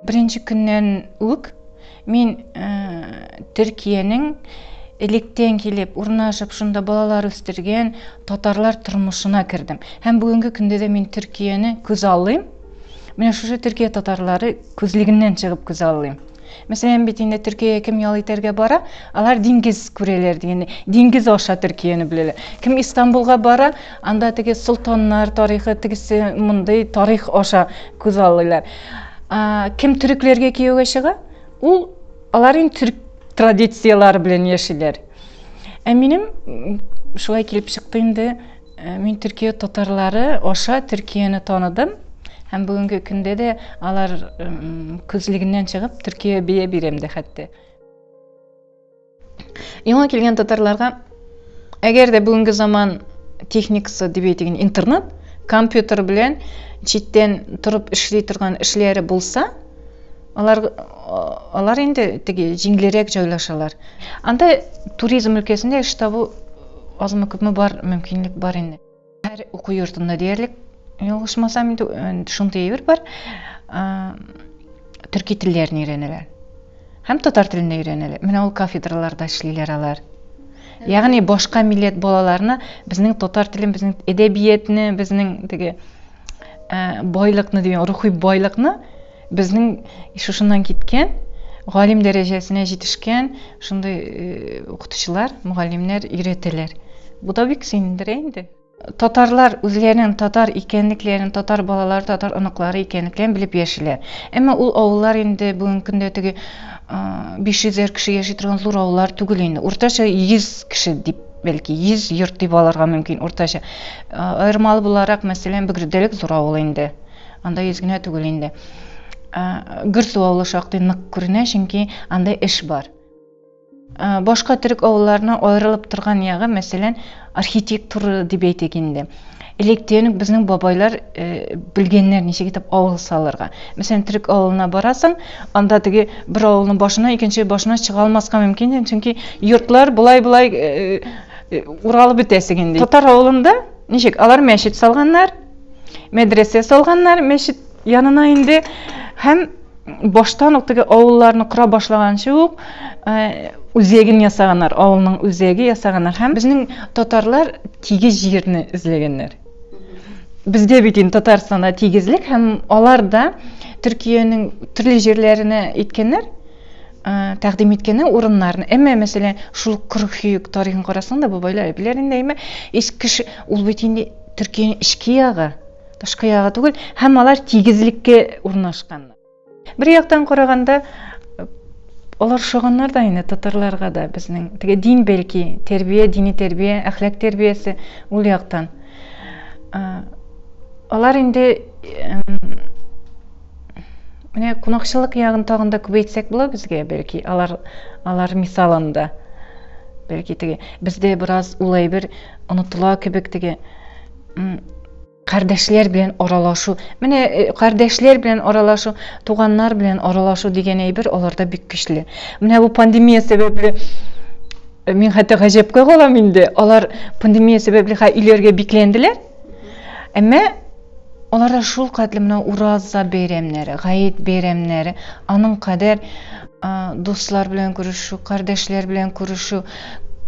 Беренче көннән үк мин э, Төркиянең электен килеп урнашып шунда балалар үстергән татарлар тормышына кердем. Һәм бүгенге көндә дә мин Төркияне күз аллыйм. Менә шушы Төркия татарлары күзлегеннән чыгып күз аллыйм. Мәсәлән, бит инде Төркиягә кем ял итәргә бара, алар диңгез күрәләр дигәндәй, диңгез аша Төркияне беләләр. Кем Истанбулга бара, анда теге солтаннар тарихы, тегесе мондый тарих аша күз алыйлар. Кем төрекләргә кияүгә чыга, ул алар инде төрек традицияләре белән яшиләр. Ә минем шулай килеп чыкты инде, Э, мин төркия татарлары аша төркияне таныдым һәм бүгенге көндә дә алар күзлегеннән чыгып төркия бия бирәм дә хәтта яңа килгән татарларга әгәр дә бүгенге заман техникасы дип әйтегін интернет компьютер белән читтән торып эшли торган эшләре булса Алар, алар инде теге җиңлерәк җайлашалар. Анда туризм өлкәсендә эш табу азмы күпме бар, мөмкинлек бар инде. Һәр уку йортында диярлек, ялгышмасам инде, шундый әйбер бар. Төрки телләрен өйрәнәләр. Һәм татар телен дә өйрәнәләр. Менә ул кафедраларда эшлиләр алар. Ягъни башка милләт балаларына безнең татар телен, безнең әдәбиятне, безнең теге байлыкны дигән, рухи байлыкны Безнең шушыннан киткән, галим дәрәҗәсенә җитешкән шундый укытучылар, мөгаллимнәр өйрәтәләр. Бу да бик сөендерә инде. Татарлар үзләренең татар икәнлекләрен, татар балалары, татар оныклары икәнлекләрен белеп яшиләр. Әмма ул авыллар инде бүгенге көндә теге 500 әр кеше яши торган зур авыллар түгел инде. Уртача 100 кеше дип, бәлки, 100 йорт дип алырга мөмкин, уртача. Аермалы буларак, мәсәлән, Бөгрдәлек зур авыл инде. Анда йөз генә түгел инде. Гөрсу авылы шактый нык күренә, чөнки анда эш бар. Башка төрек авылларына аерылып торган ягы, мәсәлән, архитектура дип әйтик инде. Электен безнең бабайлар э, белгәннәр ничек итеп авыл салырга. Мәсәлән, төрек авылына барасың, анда теге бер авылның башына, икенче башына чыга алмаска мөмкин, чөнки йортлар болай-болай э, э, уралып бетәсең инде. Татар авылында ничек? Алар мәчет салганнар, мәдрәсә салганнар мәчет янына инде һәм баштан ук теге авылларны кора башлаганчы ук үзәген ясаганнар авылның үзәге ясаганнар һәм безнең татарлар тигез җирне эзләгәннәр бездә бит инде татарстанда тигезлек һәм алар да төркиянең төрле җирләренә әйткәннәр тәкъдим иткәннәр урыннарны әмма мәсәлән шул кыргыюк тарихын карасаң да бабайлар әбиләр инде әмма кеше ул бит инде Төркиянең эчке ягы, тышкы ягы түгел, һәм алар тигезлеккә урнашкан. Бер яктан караганда, алар шаганнар да инде татарларга да безнең. Теге дин бәлки, тәрбия, дини тәрбия, әхлак тәрбиясе ул яктан. Алар инде менә кунакчыллык ягын тагын да күбәйтсәк була безгә бәлки алар алар мисалында бәлки теге бездә бераз ул әйбер онытыла кебек теге м кардәшләр белән аралашу менә э, кардәшләр белән аралашу туганнар белән аралашу дигән әйбер аларда бик көчле менә бу пандемия сәбәпле э, мин хәтта гаҗәпкә калам инде алар пандемия сәбәпле ха өйләргә бикләнделәр Әмма аларда шул кадәр менә ураза бәйрәмнәре, гаит бәйрәмнәре, аның кадәр дуслар белән күрешү, кардәшләр белән күрешү,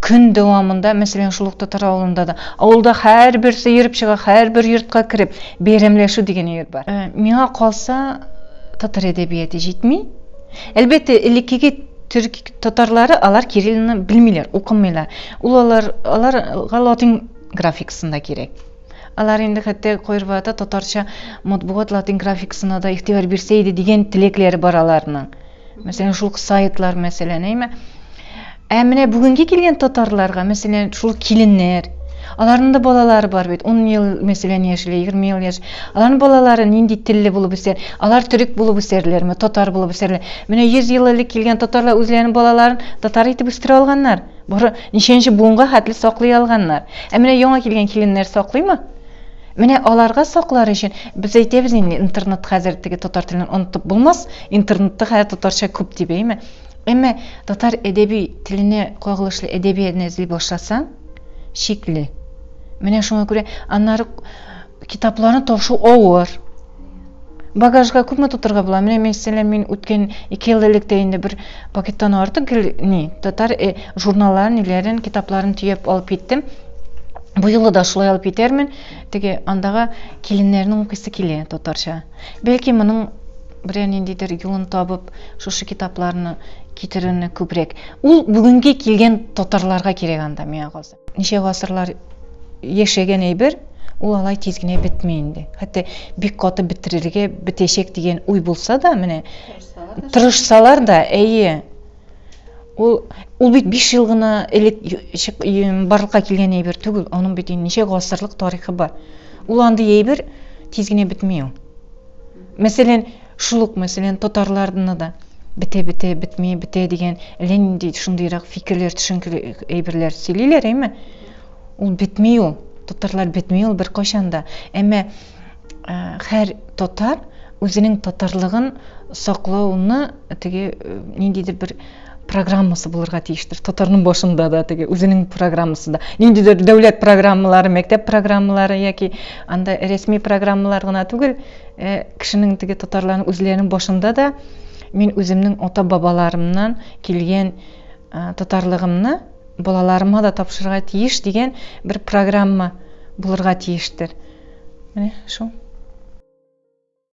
көн дәвамында, мәсәлән, шул ук татар авылында да, авылда һәрберсе йөреп чыга, һәрбер йортка кереп, бәйрәмләшү дигән йорт бар. Э, миңа калса, татар әдәбияты җитми. Әлбәттә, элеккеге төрк татарлары алар кириллны белмиләр, укымыйлар. Ул алар аларга латин графикасында кирәк. Алар инде хәтта кайрвата татарча матбугат латин графикасына да игътибар бирсә иде дигән теләкләре бар аларның. Мәсәлән, шул сайтлар мәсәлән, әйме? Ә менә бүгенге килгән татарларга, мәсәлән, шул киленнәр, аларның да балалары бар бит, 10 ел, мәсәлән, яшьле, 20 ел яшь. Аларның балалары нинди телле булып үсәр? Алар төрек булып үсәрләрме, татар булып үсәрләр? Менә 100 ел элек килгән татарлар үзләренең балаларын татар итеп үстерә алганнар. Бары ничәнче буынга хәтле саклый алганнар. Ә менә яңа килгән киленнәр саклыймы? Менә аларга саклар өчен без әйтәбез инде, интернет хәзер теге татар телен онытып булмас, интернетта хәзер татарча күп дип, әйме? Әмма татар әдәби теленә кагылышлы әдәбиятне эзли башласаң, шикле. Менә шуңа күрә аннары Китапларны ташу авыр. Багажга күпме тутырга була? Менә мәсәлән, мин үткән 2 ел элек тә инде бер пакеттан артык гел ни, татар э, журналларын, ниләрен, китапларын төяп алып киттем. Бу юлы да шулай алып китәрмен. Теге андагы киленнәрнең укыйсы килә татарча. Бәлки моның берәр ниндидер юлын табып, шушы китапларны китерүне күбрәк. Ул бүгенге килгән татарларга кирәк анда миңа калса. ничә гасырлар яшәгән әйбер, ул алай тиз генә бетми инде. Хәтта бик каты бетерергә, бетәчәк дигән уй булса да, менә тырышсалар да, әйе. Ул ул бит 5 ел гына элек барлыкка килгән әйбер түгел, аның бит ничә гасырлык тарихы бар. Ул андый әйбер тиз генә бетми ул. Мәсәлән, шул ук, мәсәлән, татарларны да бетә-бетә, бетми, бетә дигән әллә нинди шундыйрак фикерләр, төшенкеле әйберләр сөйлиләр, әйме? Ул бетми ул. Татарлар бетми ул беркайчан да. Әмма һәр татар үзенең татарлыгын саклауны теге ниндидер бер программасы булырга тиештер. Татарның башында да теге үзенең программасы да. Ниндидер дәүләт программалары, мәктәп программалары яки анда рәсми программалар гына түгел, Ә кешенең теге татарларның үзләренең башында да мин үземнең ата бабаларымнан килгән ә, татарлыгымны балаларыма да тапшырырга тиеш дигән бер программа булырга тиештер. Менә шул.